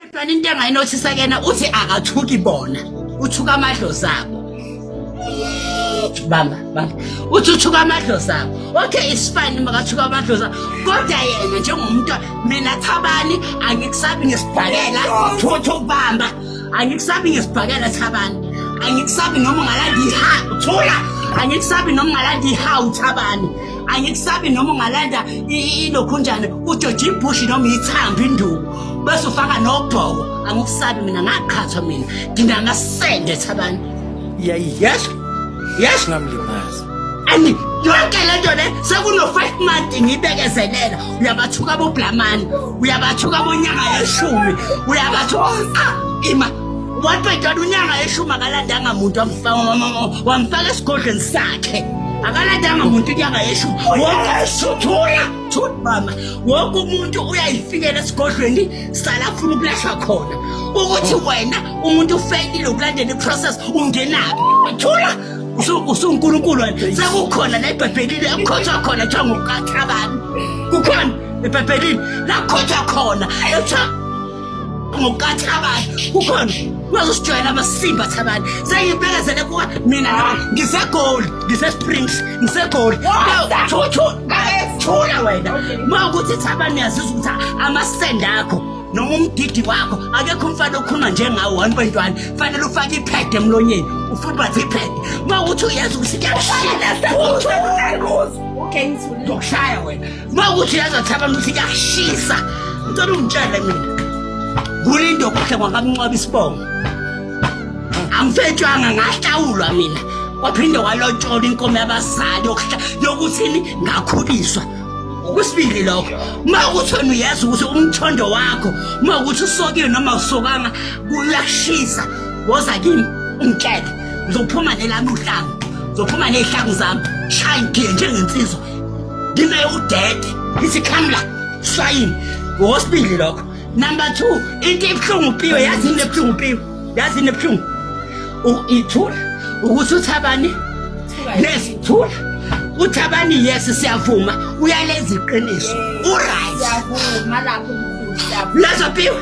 Kodwa into engayinothisa kena uthi akathuki bona uthuka amadlozi abo bamba bamba uthi uthuka amadlozi abo okay it's fine makathuka amadlozi abo kodwa yena njengomuntu mina thabani angikusabi ngesibhakela thuthu bamba angikusabi ngesibhakela thabani angikusabi noma ungalanda iha thula angikusabi noma ungalanda iha uthabani angikusabi noma ungalanda ilokhunjane ujoje ibhushi noma ithamba induku bese ufaka nobhoko angikusabi mina ngaqhathwa mina nginangasende thabani yes yes ngamlimaza and yonke le nto le sekuno-five month ngiyibekezelela uyabathuka boblamani uyabathuka bonyaka yeshumi uyabathuka ah, ima Waqedana unyanga eshuma akalandanga muntu wamfaka esigodlweni sakhe. Akalandanga muntu unyanga eshuma. Wonkesuthula thut mama. Wonke umuntu uyayifikela esigodlweni sala funa ukulashwa khona. Ukuthi wena umuntu ufeyile ukulandela iprocess ungenaphi? Thula usunkulunkulu wena sekukhona la ebhebhelini ekukhothwa khona kuthiwa ngukathabani kukhona ebhebhelini la kukhonjwa khona ekuthiwa ngokukathi abanye kukhona bazosijwayela amasimba thabani sengibekezele kuwe mina nawe ngisegoli ngisesprings ngisegoli thula wena ma ukuthi thabani uyazizwa ukuthi amasende akho noma umdidi wakho akekho umfana okhuluma njengawo one point one fanele ufake iphede emlonyeni ufubathe iphede ma ukuthi uyazi ukuthi kuyakushaya wena uma ukuthi uyazathi abantu ukuthi kuyashisa ngicela ungitshele mina kulindo kuhle kwakamncwaba isibongo angifetshwanga ngahlawulwa mina waphinde walotshola inkomo yabazali yokuthini ngakhuliswa okwesibili lokho uma ukuthi wena uyazi ukuthi umthondo wakho uma ukuthi usokile noma usokanga kuyashisa woza kimi ungitshele ngizophuma nelami uhlangu ngizophuma ney'hlangu zami shaya ngigiye njengensizwa ngine udede ngithi come la shayini ngokwesibili lokho number two into ebuhlungu piwe yazi into ebuhlungu piwe yazi into ebuhlungu ithula ukuthi uthabani nesithula uthabani yes siyavuma uyalenza iqiniso uright siyavuma lapho mkhulu lezo piwe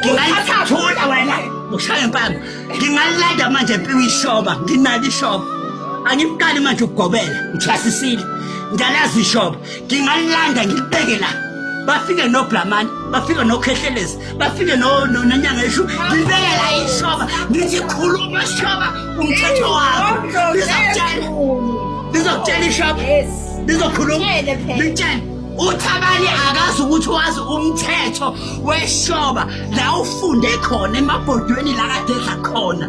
Ngingayithatha wena ushaya impama. Ngingalanda manje mpiwe ishoba, nginalo ishoba. Angiqali manje ukugobela, ngithasisile. Ngalazi ishoba. Ngingalanda ngilibeke la. bafike noblamani bafike nokhehlelezi bafike nonyanga eshu ngibeke la ishoba ngithi khuluma shoba umthetho wakho ngizokutshela ngizokutshela ishoba ngizokhuluma ngitshela uthabani akazi ukuthi wazi umthetho weshoba la ufunde khona emabhodweni la kade edla khona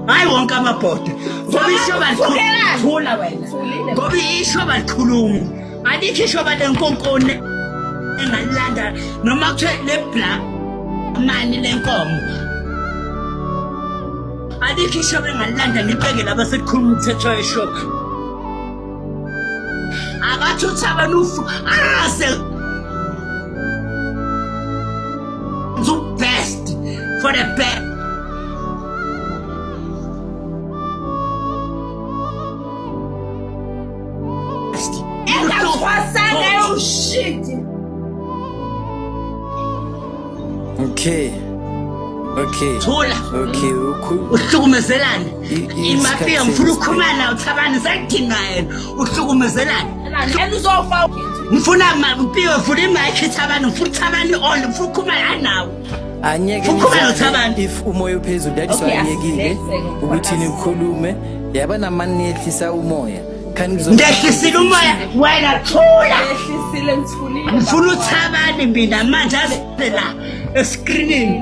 hayi wonke amabhodwe ngoba ishoba likhuluma wena ngoba ishoba likhuluma alikho ishoba lenkonkone engalilanda noma kuthiwe lebla mani lenkomo alikho ishoba engalilanda ngibekele abasekukhuluma umthetho weshoba Abatsho tshaba lufu aze the best for the best. Okay. Okay. Thola. Okay, ukhulu. Uhlukumezelani? imafiya ngifuna ukukhulumana uthabani sekudinga yena uhlukumezelani yena uzofa ngifuna mpiwe ngifuna imayikhi thabani ngifuna uthabani all ngifuna ukukhulumana anawo anyeke if umoya uphezulu that is why anyekile ukuthi nikhulume yaba namani niyehlisa umoya ngehlisile umoya wena thula ngifuna uthabani mina manje aze la eskrinini